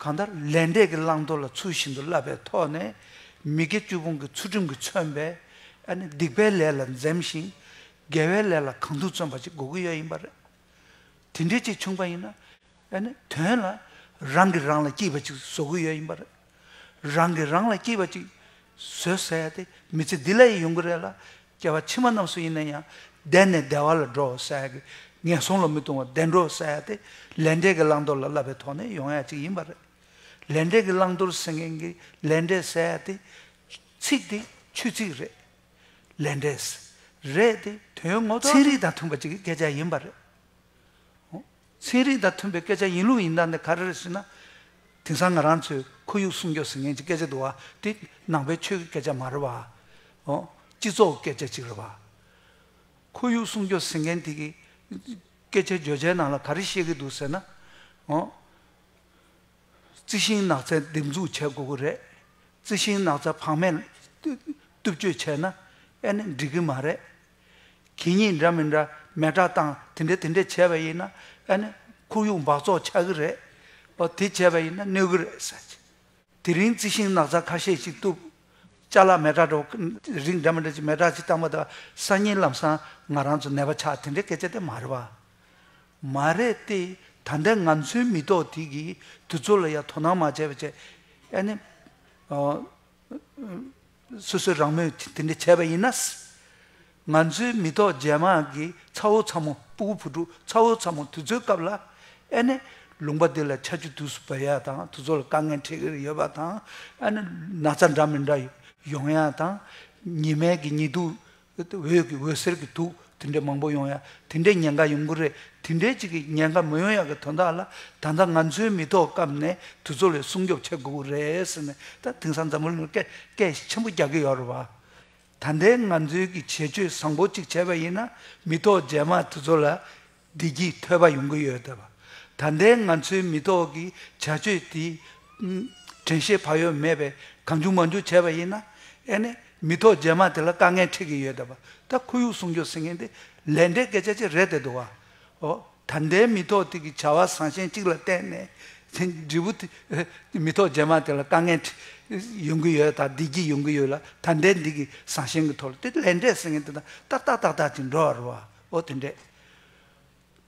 གང་ལྟར་ལས་འབྲས་ཀྱི་བླང་དོར་ལ་ཚུལ་བཞིན་དུ་བསླབ་པའི་ཐོག་ནས་མི་དགེ་བཅུ་སྤོང་གི་ཚུལ་ཁྲིམས་ཀྱིས་མཚོན་པས་ཨ་ནི་སྡིག་པའི་ལས་ལ་འཛེམ་ཞིང། དགེ་བའི་ལས་ལ་གང་ཐུག་བརྩོན་པ་ཅིག་གོ་གི་ཡོད་ཡིན་པ་རེད། དེ་འདྲའི་ཅིག་བྱུང་པ་ཡིན་ན་ཨ་ནི་དོན་ལ་རང་གིས་རང་ལ་སྐྱིད་པ་ཅིག་བཟོ་གི་ཡོད་ཡིན་པ་རེད། རང་གིས་རང་ལ་སྐྱིད་པ་ཅིག་བཟོས་ཟེར་ཡ་དེ་མི་ཚེ་འདི་ལ་ཡི་ཡོང་གི་རེད་ལ་སྐྱེ་བ་ཕྱི་མ་རྣམས་སུ་ཡིན་ན་ཡང་བདེ་ནས་བདེ་བ་ལ་འགྲོ་བར་བྱ་ཡག་གི་ངན་སོང་ལ་མི་ལྟུང་བར་བདེ་འགྲོར་བྱ་ཡག་སྟེ་ལས་འབྲས་ཀྱི་བླང་དོར་ལ་བསླབ་པའི་ཐོག་ནས་ཡོང་ཡག་ཅིག་ཡིན་པ་རེད། ལས་འབྲས་ཀྱི་བླང་དོར་ཟེར་མཁན་གྱི་ལས་འབྲས་བྱ་ཡག་དེ། ཚིག་དེ་ཆོས་ཚིག་རེད། ལས་འབྲས། རེད་དེ་དོན་ངོ་ཐོག་ཚན་རིག་དང་མཐུན་པ་ཅིག་གི་སྐད་ཆ་ཡིན་པ་རེད། ཚན་རིག་དང་མཐུན་པའི་སྐད་ཆ་ཡིན་ལུགས་ཡིན་དྲགས་ནས་ག་རེ་རེ་ཟེར་ན། དེང་སང་ང་རང་ཚོའི་ཁོར་ཡུག་སྲུང་སྐྱོབ་ཟེར་མཁན་གྱི་སྐད་ཆ་འདུག་བ་དེ་ནང་པའི་ཆོས་ཀྱི་སྐད་ཆ་མ་རེད་བ། སྤྱི་ཚོགས་ཀྱི་སྐད་ཆ་ཅིག་རེད་བ། ཁོར་ཡུག་སྲུང་སྐྱོབ་ཟེར་མཁན་དེ་གི་སྐད་ཆའི་བརྗོད་བྱའི་ནང་ལ་ག་རེ་བཤད་ཀྱི་འདུག་ཟེར་ན། རྩི་ཤིང་ནགས་ཚལ་འདེབས་འཛུགས་བྱེད་དགོས་ཀྱི་རེད། རྩི་ཤིང་ནགས་ཚལ་བག་མེད་གཏུབ་སྤྱོད་བྱས་ན་ཨེ་ནི་འགྲིག་གི་མ་རེད། གད་སྙིགས་འདྲ་མི་འདྲ་མེ་དྲ་དང་དེ་འདྲ་དེ་འདྲ་བྱས་པ་ཡིན་ན་ཨ་ནི་ཁོར་ཡུག་འབག་བཙོག་ཆགས་ཀྱི་རེད། པ་དེ་བྱས་པ་ཡིན་ན་གནོད་ཀྱི་རེད་ཟེར། དེ་རིང་རྩི་ཤིང་ནགས་ཚལ་ཁ་ཤས་ཤིག་བཏུབ། བཅའ་ལག་མེ་དྲ་འདྲ་རིགས་འདྲ་མི་འདྲ་ཅིག་མེ་དྲ་ཅིག་བཏང་པ་དང་སང་ཉིན་ལམ་སང་ང་རང་ཚོ་ནད་པ་ཆགས་དེ་འདྲའི་སྐད་ཆ་དེ་མ་རེད་པ། མ་རེད་དེ་ད་ལྟའི་ང་ཚོའི་མི་ཐོག་དེ་གིས་དུས་ཚོད་ལ་ཡང་དོ་སྣང་མ་བྱས་པ་བྱས། ཨ་ནི། སོ་སོས་རང་མོས་དེ་འདྲ་བྱས་པ་ཡིན་ན། ང་ཚོའི་མི་ཐོག་རྒྱལ་དམངས་ཀྱི་ཚ་བོ་ཚ་མོ་སྤུ་གུ་བུ་ཕྲུག་ཚ་བོ་ཚ་མོ་དེ་ཚོའི་སྐབས་ལ་ཨེ་ནི་ལུང་པ་འདི་ལ་ཆ་རྒྱུས་དུས་སུ་བབས་ཡ་དང་དུ་ཚོ་ལ་དཀའ་ངལ་འཕྲད་ཀྱི་ཡོད་པ་དང་ཨེ་ནི་ན་ཚ་འདྲ་མི་འདྲ་ཡོང་ཡ་དང་ཉི་མས་ཀྱི་ཉི་དུག་འོད་ཀྱི་འོད་ཟེར་གྱི་དུག་དེ་འདྲའི་མང་པོ་ཡོང་ཡ་དེ་འདྲའི་ཉེན་ཁ་ཡོང་གི་རེད་དེ་འདྲའི་ཅིག་གི་ཉེན་ཁ་མི་ཡོང་ཡ་གི་དོན་དག་ལ་ད་ལྟ་ང་ཚོའི་མི་ཐོག་སྐབས་ནས་དུས་ཚོད་ལས་སྲུང་སྐྱོབ་བྱེད་དགོས་གི་རེད་ཟེར་ནས་ད་དེང་སང་འཛམ་བུ་གླིང་ལ་སྐད་སྐད་ཆེན་པོ་རྒྱག་གི་ཡོད་རེད་བ། ད་ལྟའི་ང་ཚོའི་གི་བྱེད་སྤྱོད་བཟང་པོ་ཅིག་བྱས་པ་ཡིན་ན་མི་ཐོག་རྗེས་མ་དུས་ཚོད་ལ་བདེ་སྐྱིད་ཐོས་པ་ཡོང་གི་ཡོད། ད་ལྟའི་ང་ཚོའི་མི་ཐོག་གི་བྱ་སྤྱོད་དེ་དྲན་ཤེས་བག་ཡོད་མེད་པས་གང་འགྱུར་མ་འགྱུར་བྱས་པ་ཡིན་ན། ཨེ་ནས་མི་ཐོག་རྗེས་མ་དེ་ལ་དཀའ་ངལ་འཕྲད་ཀྱི་ཡོད། ད་ཁོར་ཡུག་སྲུང་སྐྱོབ་ཟེར་མཁན་དེ་ལས་འབྲས་སྐད་ཆ་ཅིག་རེད་བསྡད་འདུག་བ། ད་ལྟའི་མི་ཐོག་དེ་གི་བྱ་བ་བཟང་ཞན་གཅིག་ལ་བརྟེན་ནས་འབྲས་བུ་དེ་མི་ཐོག་རྗེས་མ་དེ་ལ་དཀའ་ངལ་ཡོང་གི་ཡོད་དང་བདེ་སྐྱིད་ཡོང་གི་ཡོད་ལ་ད་ལྟའི་འདི་གི་བཟང་ཞན་གི་ཐོག་ལ་དེ་ལས་འབྲས་ཟེར་མཁན་དེ་དང་ཏག་ཏག་ཏག་ཏག་ཅིག་འགྲོ་བ་རུ་བ། ཨོ་དེ་འདྲས།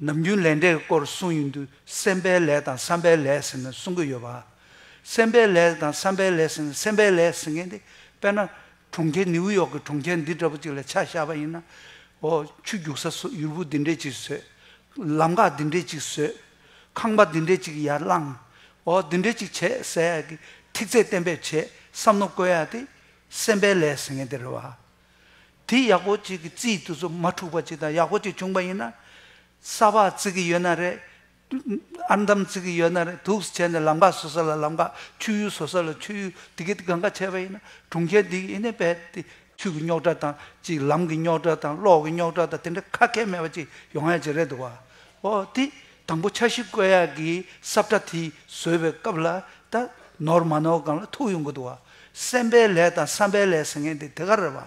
ནམ་རྒྱུན་ལས་འབྲས་ཀྱི་སྐོར་གསུངས་ཡོད་འདུག་སེམས་པའི་ལས་དང་བསམ་པའི་ལས་ཟེར་ནས་གསུང་གི་ཡོད་པ། སེམས་པའི་ལས་དང་བསམ་པའི་ལས་ཟེར་ནས་སེམས་པའི་ལས་ཟེར་མཁན་དེ་དཔེར་ན། གྲོང་ཁྱེར་ནིའུ་ཡོག་གི་གྲོང་ཁྱེར་འདི་འདྲ་བོ་ཅིག་ལ་ཆ་བཞག་པ་ཡིན་ན། ཨོ། ཆུ་རྒྱུག་ས་སོགས་ཡུར་བུ་འདི་འདྲས་ཅིག་བཟོས། ལམ་ཁ་འདི་འདྲས་ཅིག་བཟོས། ཁང་པ་འདི་འདྲས་ཅིག་ཡར་བསླངས། ཨོ་འདི་འདྲས་ཅིག་བྱས་ཟེར་ཡག་གི་ཐིག་ཚད་གཏན་འབེབས་བྱས་བསམ་མནོ་བཀོལ་ཡག་དེ། སེམས་པའི་ལས་ཟེར་མཁན་དེ་རེད་བ། དེ་ཡག་པོ་གཅིག་གི་རྩིས་དུས་ཚོད་མ་འཁྲུག་པ་གཅིག་དང་ཡག་པོ་གཅིག་བྱུང་པ་ཡིན་ན། ས་ཕག་བརྩི་གི་ཡོད་ན་རེད། ཨར་འདམ་བརྩི་གི་ཡོད་ན་རེད་དུག་བྱས་ནས་ལམ་ཁ་བཟོ་ས་ལ་ལམ་ཁ་ཆུ་ཡུར་བཟོ་ས་ལ་ཆུ་ཡུར་དེ་གི་དགའ་འགའ་བྱས་པ་ཡིན་ན་གྲོང་ཁྱེར་འདི་ཡིན་ནའི་བས་ཏེ་ཆུ་གི་རྙོག་དྲ་དང་གཅིག་ལམ་གི་རྙོག་དྲ་དང་གློག་གི་རྙོག་དྲ་དང་དེ་འདྲ་ཁ་སྐད་མེད་པ་གཅིག་ཡོང་ཡ་གཅིག་རེད་འདུག་བ། འོ་དེ་དང་པོ་འཆར་གཞི་བཀོད་ཡག་གི་སྲབ་ཁྲ་དེ་བཟོས་པའི་སྐབས་ལ་ད་ནོར་མ་ནོར་གང་ལ་ཐུག་ཡོང་གི་འདུག་བ། སེམས་པའི་ལས་དང་བསམ་པའི་ལས་ཟེར་མཁན་དེ་དེ་ག་རེད་བ།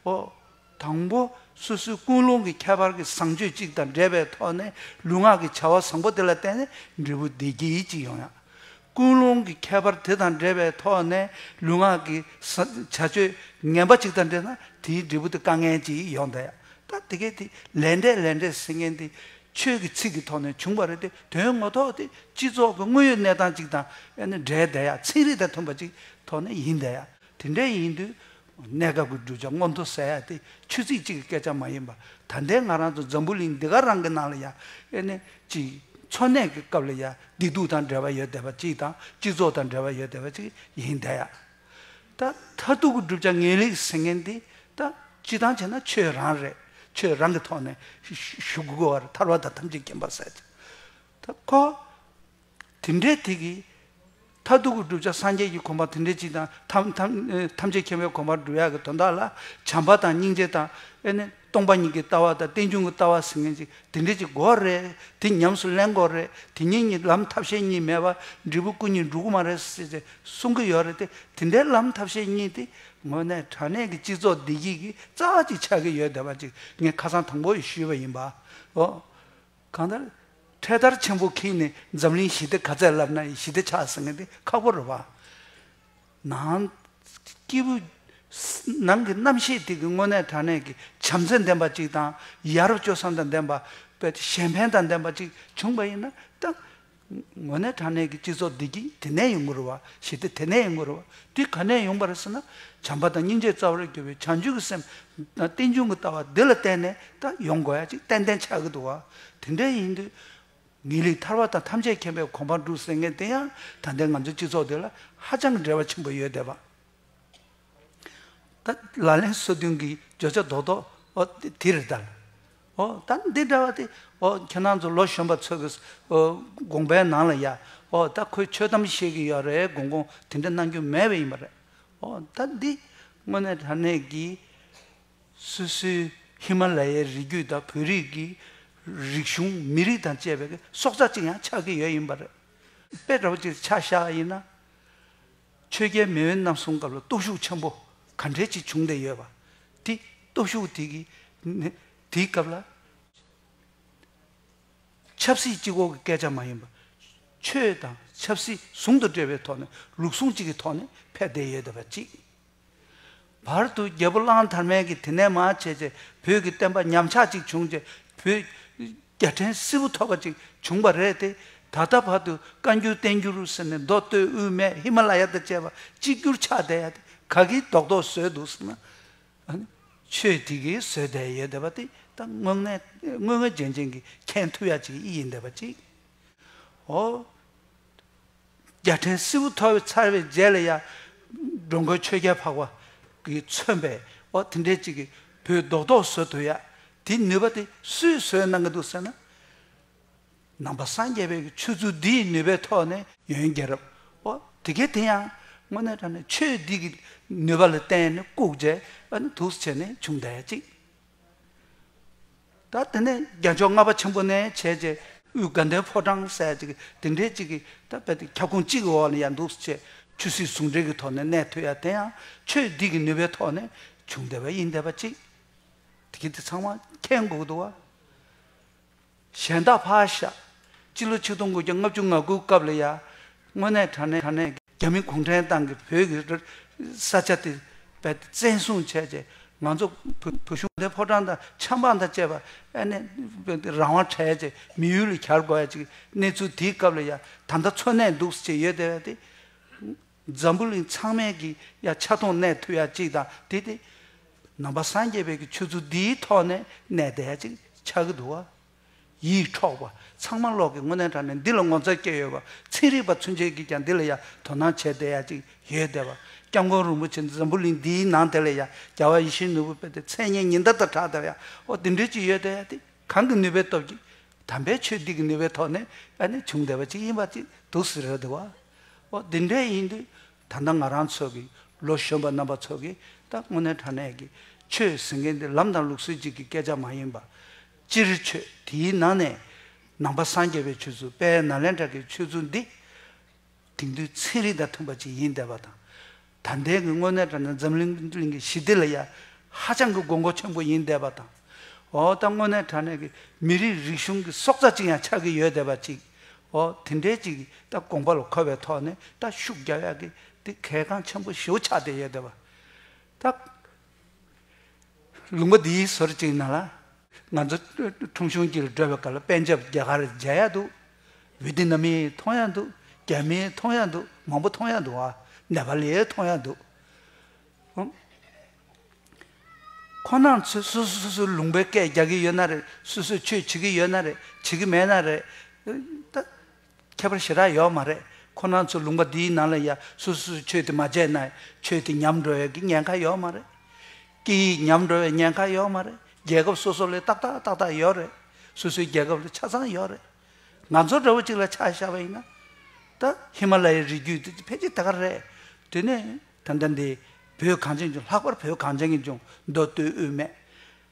ཨོ། དང་པོ། སོ་སོའི་ཀུན་སློང་གི་ཁྱད་པར་གྱི་བཟང་སྤྱོད་ཅིག་དང་འབྲེལ་བའི་ཐོག་ནས་ལུས་ངག་གི་བྱ་བ་བཟང་པོ་དེ་ལ་བརྟེན་ནས་འབྲས་བུ་བདེ་སྐྱིད་ཅིག་ཡོང་ཡ། ཀུན་སློང་གི་ཁྱད་པར་དེ་དང་འབྲེལ་བའི་ཐོག་ནས་ལུས་ངག་གི་བྱ་སྤྱོད་ངན་པ་ཅིག་དང་འབྲེལ་ན་དེའི་འབྲས་བུ་དེ་དཀའ་ངལ་ཅིག་ཡོང་ད་ཡ། ད་དེ་གའི་དེ་ལས་འབྲས་ལས་འབྲས་ཟེར་མཁན་དེ་ཆོས་ཀྱི་ཚིག་གི་ཐོག་ནས་བྱུང་བ་རེད་དེ་དོན་ངོ་ཐོག་དེ་སྤྱི་ཚོགས་ཀྱི་དངོས་ཡོད་གནས་སྟངས་ཅིག་དང་ཡང་ན་སྒྲའི་བརྡ་ཡག་ཚིག་རིགས་དང་མཐུན་པ་ཅིག་ཐོག་ནས་ཡིན་བསྡད་ཡ། དེ་འདྲ་ཡིན་དུས། གནས་སྐབས་ཀྱི་བསྒྲུབ་བྱ་མངོན་མཐོ་ཟེར་ཡ་དེ་ཆོས་ཚིག་གཅིག་གི་སྐད་ཆ་མ་ཡིན་པར་ད་ལྟའི་ང་རང་ཚོ་འཛམ་བུ་གླིང་འདི་ག་རང་གི་ནང་ལ་ཡ། ཡང་ན་གཅིག། འཚོ་གནས་ཀྱི་སྐབས་ལ་ཡ་བདེ་སྡུག་དང་འབྲེལ་བ་ཡོད་བསྡད་པ་ཅིག་དང་སྤྱི་ཚོགས་དང་འབྲེལ་བ་ཡོད་བསྡད་པ་ཅིག་ཡིན་བསྡད་ཡ། ད་མཐར་ཐུག་གི་བསྒྲུབ་བྱ་ངེས་ལེགས་ཟེར་མཁན་དེ་ད་སྤྱི་བཏང་བྱས་ན་ཆོས་རང་རེད། ཆོས་རང་གི་ཐོག་ནས་ཞུགས་དགོས་བར་ཐར་བ་དང་ཐམས་ཅད་མཁྱེན་པར་ཟད་ཅིང། ད་ཁོ། དེ་འདྲའི་དེ་གིས། མཐར་ཐུག་གི་བསྒྲུབ་བྱ་སངས་རྒྱས་ཀྱི་གོམས་པ་དེ་འདྲའི་སྤྱི་དང། ཐམས་ཅད་མཁྱེན་པའི་གོམས་པར་བསྒྲུབ་ཡ་གི་དོན་དག་ལ་བྱམས་པ་དང་སྙིང་རྗེ་དང། སྟོང་པ་ཉིད་ཀྱི་ལྟ་བ་དང་རྟེན་འབྱུང་གི་ལྟ་བ་ཟེར་མཁན་ཅིག་དེ་འདྲས་ཅིག་གོ་རེད་དེ་ཉམས་སུ་ལེན་གོ་རེད་དེ་གཉིས་གཉིས་ལམ་ཐབས་ཤེས་གཉིས་མེད་པར་འབྲས་བུ་སྐུ་གཉིས་འགྲུབ་གི་མ་རེད་ཟེར་ཏེ་གསུང་གི་ཡོད་རེད་དེ་དེ་འདྲའི་ལམ་ཐབས་ཤེས་གཉིས་དེ་དངོས་གནས་དྲ་གནས་ཀྱི་སྤྱི་ཚོགས་བདེ་སྐྱིད་ཀྱི་རྩ་བ་ཅིག་ཆགས་ཀྱི་ཡོད་བསྡད་པ་ཅིག་ངས་ཁ་སང་དང་པོ་ཡི་ཞུས་པ་ཡིན་པ། འོ། གང་ལྟར། འཕྲེད་དར་ཆེན་པོ་ཁིག་ནས་འཛམ་གླིང་ཞི་བདེ་ག་ཚད་ལབ་ན་ཡི་ཞི་བདེ་ཆགས་ཟེར་མཁན་དེ་ཁག་པོ་རེད་བ། ནང། སྐྱེས་བུ། ནང་གི་རྣམ་ཤེས་དེ་གི་སྔོན་གནས་དྲང་གནས་ཀྱི་བྱམས་བརྩེ་ལྡན་པ་ཅིག་དང། ཡ་རབས་སྤྱོད་བཟང་དང་ལྡན་པ། གཞན་ཕན་དང་ལྡན་པ་ཅིག་བྱུང་བ་ཡིན་ན་ཏང། ངོས་ནས་དྲང་གནས་ཀྱི་སྤྱི་ཚོགས་བདེ་སྐྱིད་དེ་ནས་ཡོང་གི་རེད་བ། ཞི་བདེ་དེ་ནས་ཡོང་གི་རེད་བ། དེ་ག་ནས་ཡོང་བ་རེད་ཟེར་ན། བྱམས་པ་དང་སྙིང་རྗེ་རྩ་བར་གྱུར་བའི་བྱང་ཆུབ་ཀྱི་སེམས། རྟེན་འབྱུང་གི་ལྟ་བ་འདི་ལ་བརྟེན་ནས་ཏང་ཡོང་དགོས་ཡ་ཅིག་ཏན་ཏན་ཆགས་ཀྱི་འདུག་བ། དེ་འདྲ་ཡིན་དུས། ངེས་ལེགས་ཐར་བ་དང་ཐམས་ཅད་མཁྱེན་པའི་གོ་འཕང་བསྒྲུབ་ཟེར་ངེས་དེ་ཡང་ད་ལྟའི་ང་ཚོའི་སྤྱི་ཚོགས་དེ་ལ་ཧ་ཅང་གི་འབྲེལ་བ་ཆེན་པོ་ཡོད་བསྡད་པ། ད་ལ་ལན་སོ་བདུན་གྱི་བརྗོད་བྱ་རྡོག་རྡོག་འོ་དེ་རེད་དཱ། འོ་ད་འདི་འདྲ་བ་དེ་འོ་ཁྱེད་རང་ཚོ་ལོ་གཞོན་པ་ཚོས་གིས་འོ་དགོངས་པའི་ནང་ལ་ཡ་འོ་ད་ཁོས་ཆོས་གཏམ་བཤད་གི་ཡོད་རེད་དགོངས་དགོངས་དེ་འདྲ་གནང་རྒྱུ་མེད་པ་ཡིན་པ་རེད། འོ་ད་འདི་དངོས་གནས་དྲ་གནས་ཀྱི། སུད་སིའི་ཧི་མ་ལ་ཡའི་རི་རྒྱུད་དང་བོད་རིགས་ཀྱི་རིག་གཞུང་མི་རིགས་དང་བཅས་པའི་སྲོག་རྩ་གཅིག་ཡང་ཆགས་ཀྱི་ཡོད་ཡིན་པ་རེད། དཔེ་དྲ་བོ་གཅིག་ཆ་བཞག་ཡིན་ན། ཆོས་རྒྱལ་མེས་དབོན་ནམ་སོང་སྐབས་ལ་སྟོབས་ཤུགས་ཆེན་པོ་ག་འདྲའི་གཅིག་བྱུང་བསྡད་ཡོད་པ། དེ་སྟོབས་ཤུགས་དེ་གི་དེའི་སྐབས་ལ། ཆབ་སྲིད་སྤྱི་ཁོག་གི་སྐད་ཆ་མ་ཡིན་པར། ཆོས་དང་ཆབ་སྲིད་ཟུང་དུ་འབྲེལ་བའི་ཐོག་ནས་ལུགས་ཟུང་གཅིག་གི་ཐོག་ནས་ཕེབས་བསྡད་ཡོད་བསྡད་པ་གཅིག། བར་དུ་རྒྱལ་པོ་གླང་དར་མས་ཀྱིས་དེ་ནས་མ་བྱས་ཚེ་བོད་ཀྱི་བསྟན་པ་ཉམས་ཆག་ཅིག་བྱུང་རྗེས་བོད་རྒྱ་ཕྲན་བསིལ་བུ་ཐོབ་པ་ཅིག་བྱུང་བ་རེད་དེ། ད་ལྟ་བར་དུ་བཀའ་འགྱུར་བསྟན་འགྱུར་ཟེར་ནས་མདོ་སྟོད་དབུས་མའི་ཧི་མ་ལ་ཡ་དང་བཅས་པ་གཅིག་གྱུར་ཆགས་བསྡད་ཡ་དེ་ག་གིས་རྡོག་རྡོག་བཟོས་འདུག་ཟེར་ན། ཆོས་དེ་གིས་བཟོས་བསྡད་ཡོད་བསྡད་པ་དེ་ད་དངོས་ངན་དངོས་ངན་རྗེན་རྗེན་གྱི་མཁན་ཐུབ་ཡ་ཅིག་ཡིན་བསྡད་པ་ཅིག། ཨོ། རྒྱལ་ཕྲན་སྲིད་བུ་ཐོ་བས་ཚར་བའི་རྗེས་ལ་ཡང། འགྲོ་མགོན་ཆོས་རྒྱལ་འཕགས་པ་གིས་མཚོན་པའི་འོ་དེ་འདྲའི་ཅིག་གིས་བུ་རྡོག་རྡོག་བཟོ་ཐུབ་ཡ། དེའི་ནུས་པ་དེ་སུས་བཟོས་གནང་གི་འདུག་ཟེར་ན། ནང་པ་སངས་རྒྱས་པའི་ཆོས་ཚུལ་འདི་ཡི་ནུས་པའི་ཐོག་ནས། ཡོན་རྒྱལ་རབས་འོ་དེ་གའི་དེ་ཡང་དངོས་གནས་དྲ་ནས་ཆོས་འདི་གི་ནུས་པ་ལ་བརྟེན་ནས་བཀུག་རྗེས་འོ་ནི་དུག་སེལ་ནས་བྱུང་འདྲ་ཡ་ཅིག། ད་དེ་ནས་རྒྱལ་མཆོག་ལྔ་པ་ཆེན་པོ་ནས་བྱས་རྗེས་དབུས་དགའ་ལྡན་ཕོ་བྲང་གསལ་བྱེད་ཀྱི་དེ་འདྲའི་ཅིག་གིས་ད་རྦད་དེ་ཁྱབ་ཁོངས་གཅིག་གི་འོག་ནས་ཡར་འདུག་ཅེས་ཆོས་སྲིད་ཟུང་འབྲེལ་གྱི་ཐོག་ནས་གནས་ཐུབ་ཡ་དེ་ཡང་ཆོས་སྡིག་གི་ནུས་པའི་ཐོག་ནས་བྱུང་བསྡད་པ་ཡིན་བསྡད་པ་ཅིག་དེ་གི་དེ་ཚང་མ་མཁྱེན་དགོས་ཀྱི་འདུག་བ། གཞན་དག་ཕ་ཤ། སྤྱི་ལོ་ཆིག་སྟོང་དགུ་བརྒྱ་ལྔ་བཅུ་ང་དགུའི་སྐབས་ལ་ཡང། དངོས་གནས་དྲ་གནས་རྒྱ་མི་གུང་ཁྲན་ཏང་གིས་བོད་ཀྱི་ས་ཆ་དེ་བཙན་བཟུང་བྱས་རྗེས་ང་ཚོ་བོད་གཞུང་དེ་ཕོ་བྲང་དང་ཆབ་འབངས་དང་བཅས་པ་ཨེ་ནས་རང་དབང་བྲལ་རྗེས་མི་ཡུལ་ལ་གྱར་དགོས་ཡ་ཅིག་གནས་ཚུལ་དེའི་སྐབས་ལ་ཡང་ད་ལྟ་འཚོ་གནས་འདུག་ཟེར་གྱི་ཡོད་དེ་བས། འཛམ་བུ་གླིང་ཚང་མས་ཀྱི་ཡ་ཆ་མཐོང་གནས་ཐུབ་ཡ་གཅིག་དང་དེ་སྟེ། ནང་པ་སངས་རྒྱས་པའི་གི་ཆོས་ཚུལ་འདིའི་ཐོག་ནས་གནས་བསྡད་ཡ་གཅིག་ཆགས་ཀྱི་འདུག་བ། ཡིད་འཕྲོག་པ་ཚང་མ་ལོག་གི་སྔོན་གནས་དྲགས་ནས་འདི་ལ་ངོ་མཚར་སྐྱེས་ཡོད་བ། ཚན་རིག་པ་ཚུན་ཆད་ཀྱིས་ཀྱང་འདི་ལ་ཡ་དོ་སྣང་བྱས་བསྡད་ཡ་གཅིག་ཡོད་བསྡད་བ། སྐྱབས་མགོན་རིན་པོ་ཆེ་འཛམ་བུ་གླིང་འདིའི་ནང་དེ་ལ་ཡ་རྒྱ་བ་ཡེ་ཤེས་ནོར་བུ་སྤེལ་ཏེ་མཚན་སྙན་ཉི་ཟླ་ལྟར་གྲགས་བསྡད་བ། ཡ་ཨོ་དེ་འདྲས་ཅིག་ཡོད་བསྡད་ཡ་དེ་གང་གི་ནུས་པའི་སྟོབས་ཀྱིས། དམ་པའི་ཆོས་འདི་གི་ནུས་པའི་ཐོག་ནས་ཡ་ནས་བྱུང་བསྡད་བ་ཅིག་ཡིན་བ་ཅིག་འདུག་ཟེར་ཡོད་བསྡད་བ། ཨོ་དེ་འདྲས་ཡིན་དུས་ད་ལྟ་ང་རང་ཚོ་གི་ལོ་གཞོན་པ་རྣམ་པ་ཚོ་གི་ད་དངོས་གནས་དྲང་གནས་ཀྱི་ཆོས་ཟེར་མཁན་དེ་ལམ་དང་ལུགས་སྲོལ་ཅིག་གི་སྐད་ཆ་མ་ཡིན་པ། སྤྱིར་ཆོས་དེའི་ནང་ནས་ནང་པ་སངས་རྒྱས་པའི་ཆོས་ཚུལ་དཔལ་ནཱ་ལེནྡྲ་གི་ཆོས་ཚུལ་འདི་དེང་དུས་ཚན་རིག་དང་མཐུན་པ་ཅིག་ཡིན་བསྡད་པ་དང། ད་ལྟའི་གི་དངོས་གནས་དྲན་ན་འཛམ་གླིང་གི་ཞི་བདེ་ལ་ཡ་ཧ་ཅང་གི་དགོས་མཁོ་ཆེན་པོ་ཡིན་བསྡད་པ་དང། འོ་ད་དངོས་གནས་དྲན་ན་གི་མི་རིགས་རིག་གཞུང་གི་སྲོག་རྩ་གཅིག་ཡང་ཆགས་ཀི་ཡོད་བསྡད་པ་ཅིག་འོ་དེ་འདྲའི་ཅིག་གི་ད་དགོངས་པ་ལ་འཁོད་པའི་ཐོག་ནས་ད་ཤུགས་རྒྱག་ཡ་གི་དེ་གལ་འགངས་ཆེན་པོ་ཞེ་བོ་ཆགས་བསྡད་ཡོད་བསྡད་པ། ད། ལུང་པ་འདིའི་ཟུར་གཅིག་ན་ལ། ང་ཚོ་ཁྲོམ་གཞུང་གྱི་བགྲོད་པ་གལ་པན་ཇབ་རྒྱ་གར་མཇལ་ཡག་འདུག་བྷི་ཏི་ན་མི་མཐོང་ཡག་འདུག་རྒྱ་མི་མཐོང་ཡག་འདུག་མང་པོ་མཐོང་ཡག་འདུག་ཨ་ནེ་པ་ལི་མཐོང་ཡག་འདུག། ཁོ་ནང་ཚོས་སུ་སུ་སུ་སུ་ལུང་པའི་སྐད་རྒྱག་གི་ཡོད་ན་རེད་སུ་སུ་ཆོས་བྱེད་ཀྱི་ཡོད་ན་རེད་བྱེད་ཀྱི་མེད་ན་རེད། ཁྱད་པར་ཞི་རགས་ཡོག་མ་རེད་ཁོ་ནང་ཚོ་ལུང་པ་འདིའི་ནང་ལ་ཡ་སུ་སུ་སུ་ཆོས་དེ་མ་བྱས་ན་ཆོས་དེ་ཉམས་འགྲོ་ཡག་གི་ཉན་ཁ་ཡོག་མ་རེད། སྐད་ཡིག་ཉམས་འགྲོ་བའི་ཉན་ཁ་ཡོག་མ་རེད་རྒྱལ་ཁབ་སོ་སོ་ལས་ཏག་ཏག་ཏག་ཏག་ཡོག་རེད་སུ་སུའི་རྒྱལ་ཁབ་ལ་ཆ་ཚང་ཡོག་རེད། ང་ཚོ་འདྲ་བོ་ཅིག་ལ་ཆགས་ཤ་བ་ཡིན་ན། ད་ཧི་མ་ལ་ཡའི་རི་རྒྱུད་དེ་ཕལ་ཆེར་དེ་ག་རེད། དེ་ནས་ད་ལྟ་འདི་བོད་གངས་ཅན་ལྗོངས་ལྷག་པར་བོད་གངས་ཅན་གྱི་ལྗོངས་མདོ་སྟོད་དབུས་སྨད།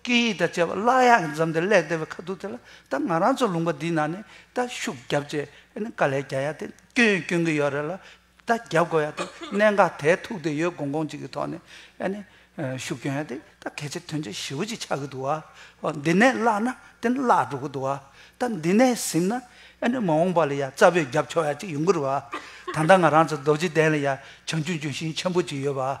སྐད་ཡིག་དང་བཅས་པ་བཀླག་ཡག་གི་མཛམ་དེ་བསླེག་བསྡད་པའི་ཁ་ཐུག་དེ་ལ་ད་ང་རང་ཚོ་ལུང་པ་འདིའི་ནང་ནས་ད་ཤུགས་བརྒྱབ་རྗེས་ཨ་ནི་དཀའ་ལས་རྒྱག་ཡག་དེ་སྐྱོན་ཡང་སྐྱོན་གྱི་ཡོད་རེད་ལ་ད་རྒྱབ་དགོས་ཡག་དེ་གནད་འགག་དེ་ཐུག་དེ་ཡོད་དགོངས་དགོངས་གཅིག་གི་ཐོག་ནས་ཨ་ནི་ཤུགས་སྐྱོན་ཡག་དེ་ད་གལ་ཆེ་དོན་ཆེ་ཞེ་བོ་གཅིག་ཆགས་ཀྱི་འདུག་ཨ་ཧོ་འདི་ནས་བཀླག་ན་དེ་ནི་བཀླག་འགྲོ་གི་འདུག་ཨ་ད་འདི་ནས་གཟིམ་ན་ཨ་ནི་མ་འོངས་པ་ལ་ཡང་རྩ་བོད་རྒྱབ་ཕྱོགས་ཡག་གཅིག་ཡོང་གི་རེད་ཨ་ད་ལྟ་ང་རང་ཚོ་རྡོ་རྗེ་གདན་ལ་ཡང་བྱང་ཆུབ་ལྗོན་ཤིང་ཆེན་པོ་གཅིག་ཡོད་པ་ཨ་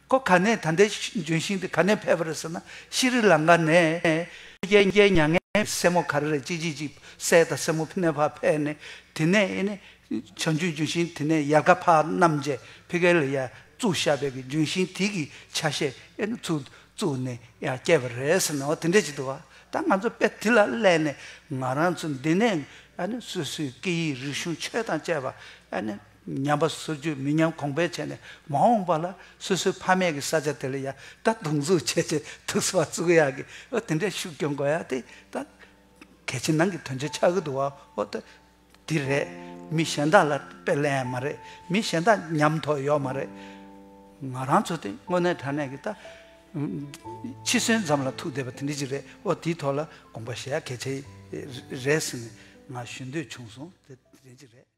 ཁོ་ག་ནས་ད་འདས་འབྱོན་ཞིང་དེ་ག་ནས་ཕེབས་པ་རེད་ཟེར་ན་ཤི་རི་ལང་ཀ་ནས། རྒྱལ་རྒྱལ་མྱ་ངན་གྱི་སྲས་མོ་ག་རེ་རེད་ཅིག་ཅིག་ཅིག་སྲས་དང་སྲས་མོ་ཕི་ནེ་བྷར་ཕེབས་ནས་དེ་ནས་ཨེ་ནས་བྱང་ཆུས་ལྗོན་ཤིང་དེ་ནས་ཡར་ག་བྷར་རྣམས་རྗེ་ཕི་གེ་ལ་ཡ་བཙུགས་ཤ་བེད་ཀྱི་ལྗོན་ཤིང་དེ་གི་ཆ་ཤས་ཨེ་ནས་ཚུགས་བཙུགས་ནས་ཡ་སྐྱེས་པ་རེད་ཟེར་ན་འོ་དེ་འདྲས་ཅིག་འདུག་བ་ད་ང་ཚོ་དཔེ་དེ་ལ་སླད་ནས་ང་རང་ཚོ་འདི་ནས་ཨ་ནས་སོ་སོའི་སྐད་ཡིག་རིག་གཞུང་ཆོས་དང་བཅས་པ་ཨ་ནས། ཉམས་པ་སུ་རྒྱུད་མི་ཉམས་གོང་འཕེལ་བྱས་ནས་མ་འོངས་པ་ལ་སོ་སོའི་ཕ་མེས་ཀྱི་ས་ཆ་དེ་ལ་ཡང་ད་དུང་འཛུགས་བྱས་ཆེད་དུ་ས་བ་བཙུགས་ཡག་གི་ཨོ་དེ་འདྲའི་ཤུགས་རྒྱོབ་དགོས་ཡག་དེ་ད་གལ་ཕྱི་ནང་གི་དོན་ཆེན་ཆགས་ཀྱི་འདུག་བ་ཨོ་ད་དེ་རེད་མི་གཞན་དག་ལ་དཔེ་ལེན་ཡག་མ་རེད་མི་གཞན་དག་ཉམས་ཐོག་ཡོག་མ་རེད་ང་རང་ཚོ་དེ་དངོས་གནས་དྲ་གནས་ཀྱི་ད་འཆི་གསོན་ཙམ་ལ་ཐུག་བསྡད་པ་དེ་འདྲ་ཅིག་རེད་ཨོ་དེའི་ཐོག་ལ་དགོངས་པ་བཞེས་ཡག་གལ་ཆེ་རེད་ཟེར་ནས་ང་ཞུ་འདོད་བྱུང་སོང་དེ་འདྲ་ཅིག་རེད།